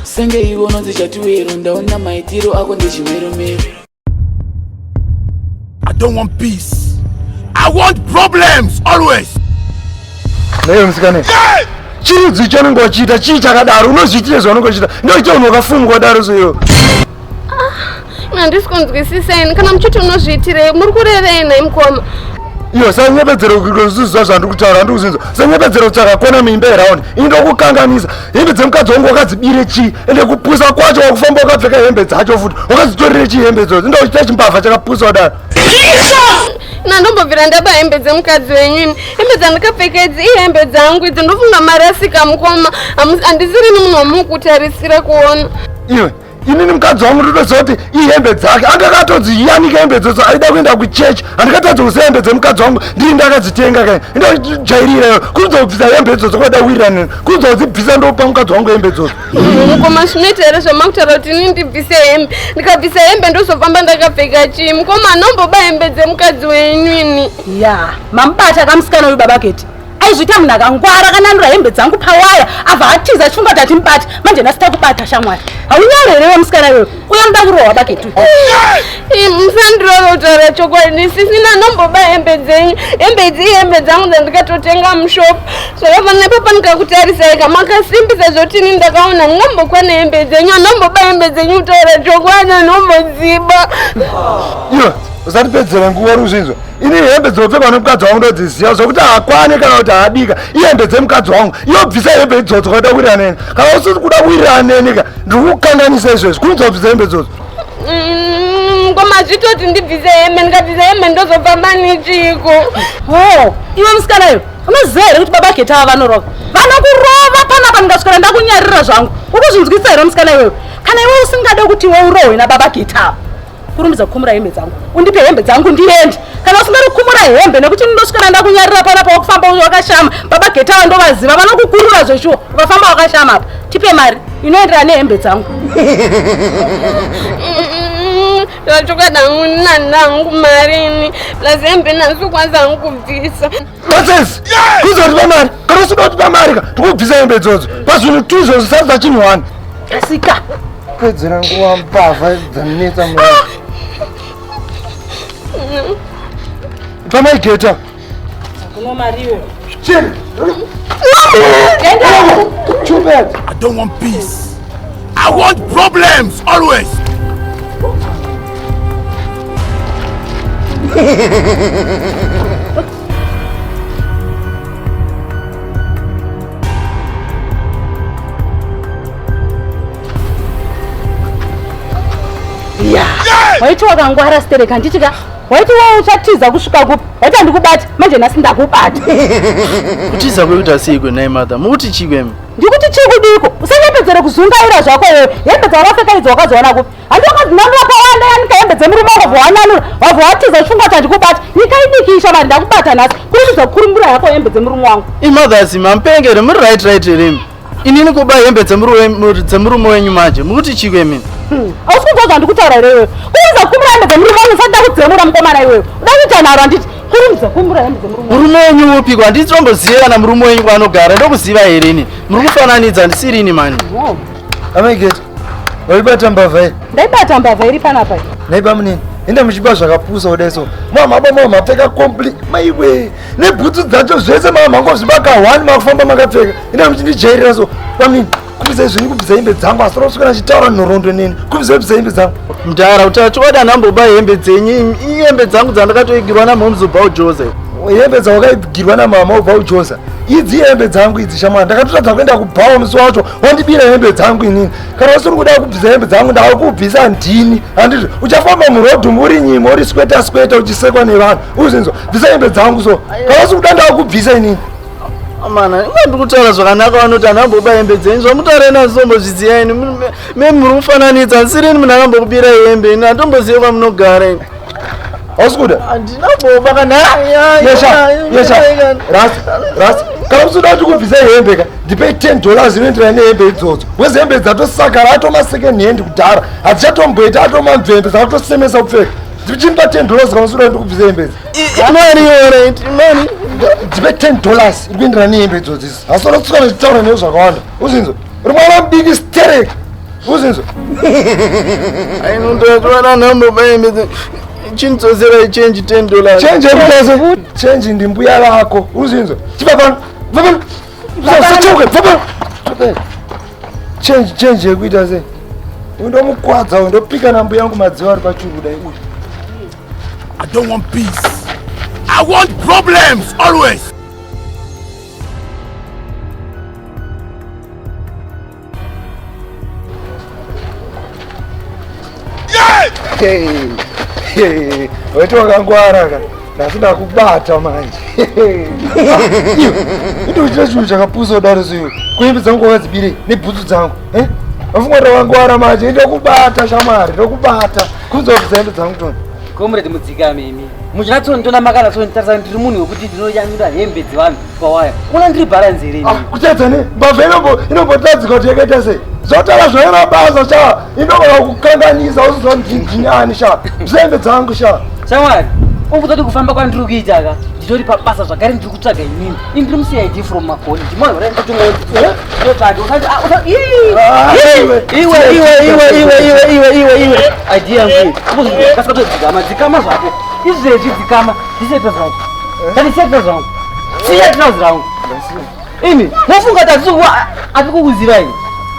senge ivo unonzi chatiwero ndaona maitiro ako ndechimeromero i don't want peace i want problems always naye musikana yeah! chirudzi chaunenge wachiita chii chakadaro unozviitire zvaunenge wachiita ndoita unhu wakafumukwa daro soiwo ah, handisi kunzwisisa ini kana muchiti unozviitirei muri kurevei nhai mukoma iyo sanyepedzero kuziziva zvandiri kutaura andiri kuzinza sanyepedzero tsvaka kona muimba yeraundi ini ndokukanganisa hembe dzemukadzi wangu wakadzibire chii ende kupusa kwacho wakufamba wakapfeka hembe dzacho futi wakadzitorire chii hembe idzodzo ndokuchita chimbavha chakapusa kudaro na ndombobvira ndaba hembe dzemukadzi wenyu ini hembe dzandikapfeka idzi ihembe dzangu idzo ndofunga marasika mukoma handisirini munhu wamukutarisira kuona iwe inini mukadzi wangu ndotoziva kuti ihembe dzake anga akatonzi yanike hembe dzodzo aida kuenda kuchechi handikatadza kuziva hembe dzemukadzi wangu ndiri ndakadzitenga kai indojairira kuridza kubvisa hembe dzodzo kwaida kuwiranini kuridza kudzibvisa ndopa mukadzi wangu hembe dzodzo mukoma zvinoita here zvamakutaura kuti inini ndibvise hembe ndikabvisa hembe ndozofamba ndakapfeka chii mukoma anomboba hembe dzemukadzi wenyu ini ya mamubata kamusikana uyu babaketi aizviita munhu akangwara akananura hembe dzangu pawaya abva atiza achifunga kuti atimubati manje nhasi takubata shamwari haunyare here wemusikana iwewe uya muda kurohwa baketu musandirove kutaura chokwadi sisina nomboba hembe dzenyu hembe idzi ihembe dzangu dzandikatotenga mushop zvakafanira papa ndikakutarisai ka makasimbisa zvotini ndakaona ndingambokwana hembe dzenyu anomboba hembe dzenyu kutaura chokwadi anombodziba usatipedzera nguva ruzvinzwa ini hembe dzinopfekwa nemukadzi wangu ndodziziva zvokuti haakwane kana kuti haadika ihembe dzemukadzi wangu iyobvisa hembe idzodzo kakuda kuwirira neni kana usisi kuda kuwirira neni ka ndiri kukanganisa izvezvi kunzi wabvisa hembe idzodzo mm, koma zvitoti ndibvise hembe ndikabvisa hembe ndozobva manichiko ho iwe musikana iyo unoziva here kuti baba getava vanorova vanokurova panapa ndingaswera ndakunyarira zvangu ukuzvinzwisa here musikana iwewe kana iwe usingade kuti iwe urohwe nababa getava kurumidza kukumura hembe dzangu undipe hembe dzangu ndiende kana usingari kukumura hembe nekuti ndosvikana ndakunyarira pana pawakufamba wakashama baba getawa ndovaziva vanokukurura zveshuwa ukafamba wakashama apa tipe mari inoenderana nehembe dzangu zvachokwadi hangu nanangu marini plus hembe nasikwanza hangu kubvisa nonsense kuza kuti pamari kana usida kuti pamari ka tikubvisa hembe idzodzo pazvinhu tu izvozvo sadza chinhu wani asika pedzera nguva mbavha dzanetsa ah! mwana pamaigeta kuno mariwo chini Too bad. I don't want peace. I want problems always. waiti wakangwara stereka handiti ka waiti wa uchatiza kusvika kupi waiti handikubati manje nhasi ndakubata kutiza kwekuti asiikwe nhai mother mukuti chikwemi ndikuti chii kudiko usanyepedzere kuzungaira zvako iwewe hembe dzawakapfeka idzi wakazowana kupi handi wakazinanu wakawanda yanika hembe dzemurume wakavhowananura wavhowatiza chifungwa chandikubata nyika idiki ishamari ndakubata nhasi kuruchidza kukurumura yako hembe dzemurumi wangu imothers mampenge here muri right right heremi inini kuba hembe dzemurume wenyu manje mukuti chii kwemini hmm. ausi kunzwa zvandikutaura irewewe kuruza kukumura hembe dzemurume wangu usati ndakudzemura mukomana iwewe udakuita nharo handiti kurumza kumbura hembe dzemurume murume wenyu upiko handiti tombozive kana murume wenyu kwaanogara ndokuziva here ini muri kufananidza handisiri ini mani wow. amegeti waibata mbavha iri ndaibata mbavha iri panapa naiba munini enda muchiba zvakapusa kudai so mamaba mama mapfeka compli maiwe nebhutsu dzacho zvese mama mangozvibaka one makufamba makapfeka enda muchindijairira so pamini kubvisa izvi kubvisa hembe dzangu asi rosvika achitaura nhoroondo neni kubvisa kubvisa hembe dzangu mdara utacho wada namboba hembe dzenyu ihembe dzangu dzandakatoigirwa namomzi ubva ujoza hembe dzawakaigirwa namama ubva ujoza idzi hembe dzangu idzi shamwana ndakatotadza kuenda kubhawa musi wacho wandibira hembe dzangu inini kana usiri kuda kubvisa hembe dzangu ndava kubvisa ndini handiti uchafamba murodhum uri nyima uri skweta skweta uchisekwa nevanhu uzinzwa bvisa hembe dzangu so kana usiri kuda ndava kubvisa inini Amana, ah, inga ndikutaura zvakanaka vanoti anhu amboba hembe dzenyu zvamutaura ina zvizombozviziva ini me muri kufananidza nsirini munhu akambokubira hembe ini hatombozive kwamunogara ini ausikuda handina boba kana kana kusuda kuti kubvisa hembe ka ndipei ten dollars inoenderana nehembe idzodzo wezi hembe dzatosakara atoma second hand kudhara hadzichatomboita atoma mvembe dzakatosemesa kupfeka ndichimba ten dollars kana kusuda kuti kubvisa hembe idzi imari yoret imari dzive 10 dollars iri kuendera nehembe idzodzi izi asi ora kutsika nezvitaura neyo zvakawanda uzinzo uri mwana mudiki sterek uzinzo ainondotoana nhambo baimbe chindidzosera ichange 10 dollars change yekutasa change ndimbuya vako uzinzo chiva pano va pano usasachauke va pano change change yekuita sei undomukwadza undopika nambuya yangu madziva ari pachuruda iuyu I don't want peace. I want problems always. weti wakangwara ka nhasi ndakubata manje indochita chinhu chakapusa kudaro soiwe kuimbi dzangu wakadzibirei nebhutsu dzangu eh? afunga kuti wakangwara manje ndokubata shamwari ndokubata Kunzwa kuzendo dzangu tona. Comrade mudzika mimi. Muchinatso ndona makana so nditarisa ndiri munhu wekuti ndinoyanyura hembe dzevanhu pawaya. Kuna ndiri balance here? Ah, kutadza ne mbavha inombo inombotadzika kuti yakaita sei? Zvotara zvaira basa sha. Inogona kukanganisa usizo ndinjinani sha. Mzembe dzangu sha. Shamwari, ukuti kufamba kwandiri kuita ka? Nditori pabasa zvakare ndiri kutsvaga inini ini ndiri mucid from makoni ndimoyora kuti motsvage iweiweiweiweiweiweiweiweiwe idea yangu kasika todzikama dzikama zvako izvezvi dzikama ndisetra zvangu tandisetra zvangu siyetra zvangu imi mofunga kuti ati kukuziva ini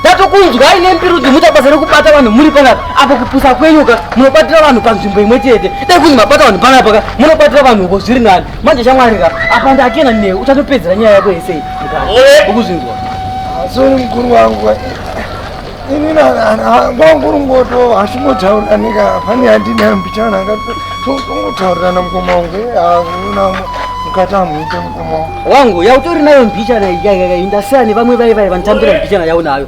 ndatokunzwa ine mbiru dzimuta basa rekubata vanhu muri panapa apo kupusa kwenyuka munobatira vanhu panzvimbo imwe chete dai kunzi mabata vanhu panapa ka munobatira vanhu uko zviri nani manje shamwari ka apa ndakena newe uchatopedzera nyaya yako yese ukuzvinzwa sori mukuru wangu ini kwanguri ngoto hasingotaurirani ka pane yandine mbichana angatongotaurirana mukoma wangu hauna mukati amuite mukoma wangu wangu yautori nayo mbichana iyaiyainda seani vamwe vai vai vanotambira mbichana yaunayo